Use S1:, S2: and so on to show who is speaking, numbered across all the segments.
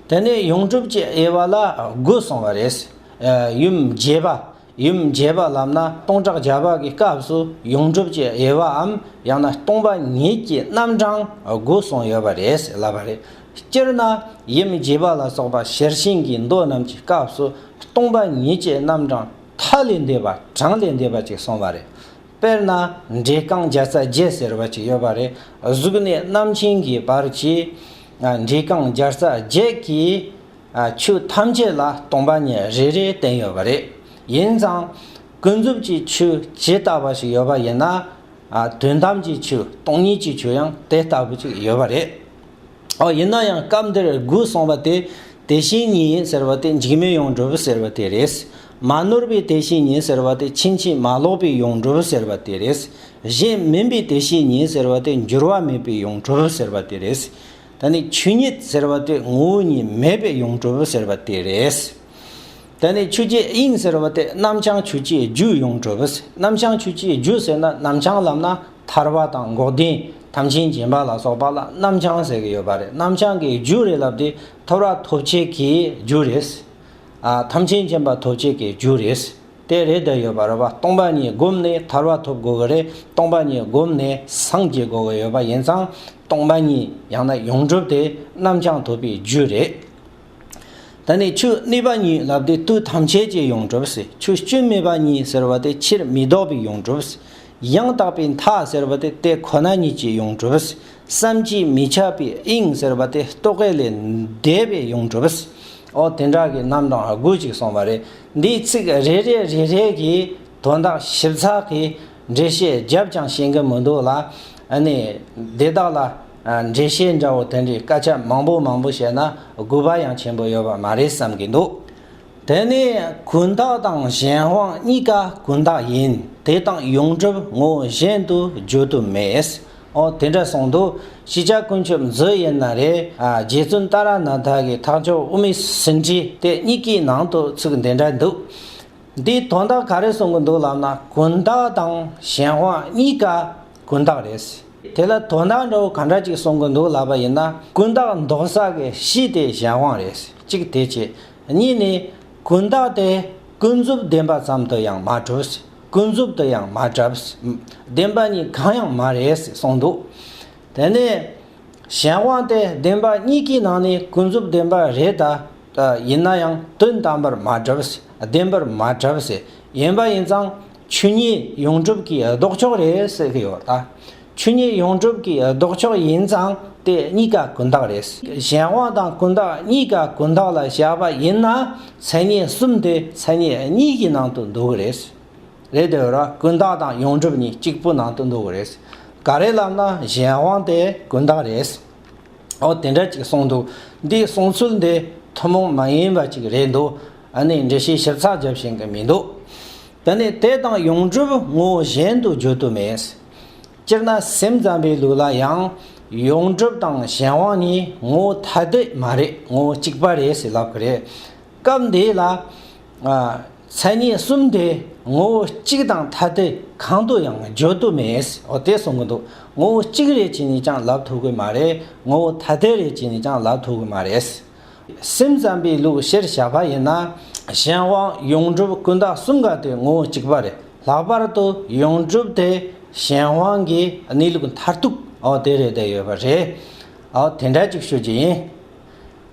S1: དེ་ནས་ཡོངས་གྲུབ་ཀྱི་དབྱེ་བ་ལ་དགུ་གསུངས་པ་རེད། ཡུམ་བརྒྱད་པ། ཡུམ་བརྒྱད་པ་ལབ་ན་སྟོང་ཕྲག་བརྒྱ་པ་གི་སྐབས་སུ་ཡོངས་གྲུབ་ཀྱི་དབྱེ་བའམ་ཡང་ན་སྟོང་པ་ཉིད་ཀྱི་རྣམ་གྲངས་དགུ་གསུངས་ཡོད་པ་རེད་ལབ་པ་རེད། སྤྱིར་ན་ཡུམ་བརྒྱད་པ་ལ་སོགས་པ་ཤེར་ཕྱིན་གྱི་མདོ་རྣམས་ཀྱི་སྐབས་སུ་སྟོང་པ་ཉིད་ཀྱི་རྣམ་གྲངས་མཐའ་ལས་འདས་པ་གྲངས་ལས་འདས་པ་ཅིག་གསུངས་པ་རེད། དཔེར་ན་འབྲས་རྐང་བརྒྱ་རྩ་བརྒྱད་ཟེར་བ་ཅིག་ཡོད་པ་རེད། གཟུགས་གནས་རྣམ་མཁྱེན་གྱི་བར་གྱི་འབྲས་རྐང་བརྒྱ་རྩ་བརྒྱད་ཀྱི་ཆོས་ཐམས་ཅད་ལ་སྟོང་པ་ཉིད་རེ་རེའི་རྟེན་ཡོད་པ་རེད། ཡིན་ཙང། ཀུན་རྫོབ་ཀྱི་ཆོས་ཇི་ལྟ་བ་ཞིག་ཡོད་པ་ཡིན་ན། དོན་དམ་གྱི་ཆོས་སྟོང་ཉིད་ཀྱི་ཆོས་ཡང་དེ་ལྟ་བུ་ཅིག་ཡོད་པ་རེད། ཨོ་ཡིན་ན་ཡང་སྐབས་འདིར་དགུ་གསུངས་པ་དེ་དེ་བཞིན་ཉིད་ཡིན་ཟེར་བ་དེ་འཇིགས་མེད་ཡོངས་གྲུབ་ཟེར་བ་དེ་རེད། མ་ནོར་བའི་དེ་བཞིན་ཉིད་ཟེར་བ་དེ་ཕྱིན་ཅི་མ་ལོག་པའི་ཡོངས་གྲུབ་ཟེར་བ་དེ་རེད། གཞན་མིན་པའི་དེ་བཞིན་ཉིད་ཟེར་བ་དེ་འགྱུར་བ་མེད་པའི་ཡོངས་གྲུབ་ཟེར་བ་དེ་རེད། ད་ནི་ཆོས་ཉིད་ཟེར་བ་དེ་ངོ་བོ་ཉིད་མེད་པའི་ཡོངས་གྲུབ་ཟེར་བ་དེ་རེད། ད་ནི་ཆོས་ཀྱི་དབྱིངས་ཟེར་བ་དེ་རྣམ་བྱང་ཆུབ་ཀྱི་རྒྱུ་ཡོངས་གྲུབ། རྣམ་བྱང་ཆུབ་ཀྱི་རྒྱུ་ཟེར་ན་རྣམ་བྱང་ལམ་ན། ཐར་བ་དང་འགོག་བདེན་དམ་ཆིངས་རྗེན་པ་ལ་སོགས་པ་ལ་རྣམ་བྱང་ཟེར་གྱི་ཡོད་པ་རེད་རྣམ་བྱང་གི་རྒྱུ་རེད་ལབ་དེ་ཐོབ་ར་ཐོབ་བྱེད་ཀྱི་རྒྱུ་རེད། དམ་ཆིངས་རྗེན་པ་ཐོབ་བྱེད་ཀྱི་རྒྱུ་རེད། དེ་རེད་དེ་ཡོད་པ་རེད་བ་སྟོང་པ་ཉིད་བསྒོམས་ནས་ཐར་བ་ཐོབ་དགོས་ཀྱི་རེད་སྟོང་པ་ཉིད་བསྒོམས་ནས་སངས་རྒྱས་དགོས་ཀྱི་ཡོད་པ་ཡིན་ཙང་སྟོང་པ་ཉིད་ཡང་ན་ཡོངས་གྲུབ་དེ་རྣམ་བྱང་ཐོབ་པའི་རྒྱུ་རེད། ད་ནི་ཆུ་གནས་པ་ཉིད་ལབ་སྟེ་དུས་ཐམས་ཅད་ཀྱི་ཡོངས་གྲུབ་ཟེར་ཆུ་སྐྱོན་མེད་པ་ཉིད་ཟེར་བ་དེ་ཕྱིར་མི་ལྡོག་པའི་ཡོངས་གྲུབ་ཟེར། ཡང་དག་པའི་མཐའ་ཟེར་བ་དེ་དེ་ཁོ་ན་ཉིད་ཀྱི་ཡོངས་གྲུབ་ཟེར། བསམ་གྱིས་མི་ཁྱབ་པའི་དབྱིངས་ཟེར་བ་དེ་རྟོག་གེ་ལས་འདས་པའི་ཡོངས་གྲུབ་ཟེར། ཨོ་དེ་འདྲ་གི་རྣམ་གྲངས་དགུ་ཅིག་གསུངས་པ་རེད། འདིའི་ཚིག་རེ་རེ་རེ་རེ་གིས་དོན་དག་ཞིབ་ཚགས་ཀྱིས། འགྲེལ་བཤད་བརྒྱབ་ཀྱང་ཤེས་གི་མི་འདུག་ལ། ནི། དེ་དག་ལ། འགྲེལ་བཤད་འདྲ་བོ་དེ་འདྲའི་སྐད་ཆ་མང་པོ་མང་པོ་བཤད་ན་དགོས་པ་ཡང་ཆེན་པོ་ཡོད་པ་མ་རེད་བསམ་གི་འདུག། དེ་ནི་གུན་དག་དང་གཞན་དབང་གཉིས་ཀ་གུན་དག་ཡིན་དེ་དང་ཡོངས་གྲུབ་ངོ་གཞན་དུ་བརྗོད་དུ་མེད། ཨོ་དེ་འདྲ་གསུངས་འདུག་གཞིས་ཆགས་དཀོན་མཆོག་མཛོད་ཡིན་ན་རེད། རྗེ་བཙུན་ཏཱ་ར་ནཱ་ཐ་གི་ཐག་མཆོག་དབུ་མའི་ཟིན་བྲིས་དེ་གཉིས་ཀྱི་ནང་དུ་ཚིག་འདི་འདྲ་འདུག། འདི་དོན་དག་ག་རེ་གསུང་གི་འདུག་ལབ་ན་གུན་བརྟག་དང་གཞན་དབང་གཉིས་ཀ་གུན་བརྟག་རེད་ཟེར། དེ་ལ་དོན་དག་འདྲ་བོ་ག་འདྲ་ཅིག་གསུང་གི་འདུག་ལབ་པ་ཡིན་ན་གུན་བརྟག་མདོ་བསགས་ཀྱི་གཞི་དེ་གཞན་དབང་རེད་ཟེར་གཅིག་དེ་བྱས། གཉིས་ནི། གུན་བརྟག་དེ་ཀུན་རྫོབ་བདེན་པ་ཙམ་དུ་ཡང་མ་གྲུབ་ཟེར་ཀུན་རྫོབ་ཏུ་ཡང་མ་གྲབས་ཟེར། བདེན་པ་གཉིས་གང་ཡང་མ་རེད་ཟེར་གསུང་འདུག་དེ་ནས། གཞན་དབང་དེ་བདེན་པ་གཉིས་ཀྱི་ནང་ནས་ཀུན་རྫོབ་བདེན་པ་རེད་ད། ཡིན་ན་ཡང་དོན་དམ་པར་མ་གྲུབ། བདེན་པར་མ་གྲུབ། ཡིན་པ་ཡིན་ཙང་ཆོས་ཉིད་ཡོངས་གྲུབ་ཀྱི་ལྡོག་ཕྱོགས་རེད་ཟེར་གྱི་ཡོད་ད། ཆོས་ཉིད་ཡོངས་གྲུབ་ཀྱི་ལྡོག་ཕྱོགས་ཡིན་ཙང་དེ་གཉིས་ཀ་ཀུན་བརྟགས་རེད། གཞན་དབང་དང་ཀུན་བརྟགས་གཉིས་ཀ་ཀུན་བརྟགས་ལ་བཞག་པ་ཡིན་ན་མཚན་ཉིད་གསུམ་དེ་མཚན་ཉིད་གཉིས་ཀྱི་ནང་དུ་འདུ་གི་རེད། ལས་དེ་འོས་རོགས་ཀུན་བརྟགས་དང་ཡོངས་གྲུབ་གཉིས་གཅིག་པུ་ནང་དུ་འདུག་གི་རེད། ག་རེ་ལབ་ན་གཞན་དབང་དེ་ཀུན་བརྟགས་རེད། ཨོ་དེ་འདྲ་གཅིག་གསུངས་འདུག་འདིའི་གསུངས་ཚུལ་འདི་ཐུན་མོང་མ་ཡིན་པ་གཅིག་རེད་འདུག་ཨ་ནི་འགྲེལ་བཤད་ཞིབ་ཚགས་བརྒྱབ་བཞིན་གི་མི་འདུག་དེ་ནི་དེ་དང་ཡོངས་གྲུབ་ངོ་བོ་གཞན་དུ་བརྗོད་དུ་མེད། སྤྱིར་ན་སེམས་ཙམ་པའི་ལུགས་ལ་ཡང་ཡོངས་གྲུབ་དང་གཞན་དབང་གཉིས་ངོ་བོ་ཐ་དད་མ་རེད་ངོ་བོ་གཅིག་པ་རེད་ཟེར་ལབ་གི་རེད། སྐབས་འདི་ལ། མཚན་ཉིད་གསུམ་དེ་ངོ་བོ་གཅིག་དང་ཐ་དད་གང་དུ་ཡང་བརྗོད་དུ་མེད། འོ་དེ་གསུང་གི་འདུག་ངོ་བོ་གཅིག་རེད་ཅེས་ནས་ཀྱང་ལབ་ཐུབ་གི་མ་རེད། ངོ་བོ་ཐ་དད་རེད་ཅེས་ནས་ཀྱང་ལབ་ཐུབ་གི་མ་རེད། སེམས་ཙམ་པའི་ལུགས་གཞིར་བཞག་པ་ཡིན་ན། གཞན་དབང་ཡོངས་གྲུབ་ཀུན་བརྟགས་གསུམ་ག་དེ་ངོ་བོ་གཅིག་པ་རེད། ལྷག་པར་དུ་ཡོངས་གྲུབ་དེ་གཞན་དབང་གི་གནས་ལུགས་མཐར་ཐུག་འོ་དེ་རེད་བསྡད་ཡོད་པ་རེད། འོ་དེ་འདྲ་གཅིག་ཤོད་ཀྱི་ཡིན།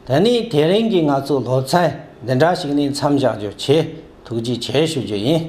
S1: ད་ནི་དེ་རིང་གི་ང་ཚོའི་སློབ་ཚན་འདི་འདྲ་ཞིག་ནས་མཚམས་བཞག་རྒྱུ་ཆེས་ཐུགས་རྗེ་ཆེ་ཞུ་རྒྱུ་ཡིན།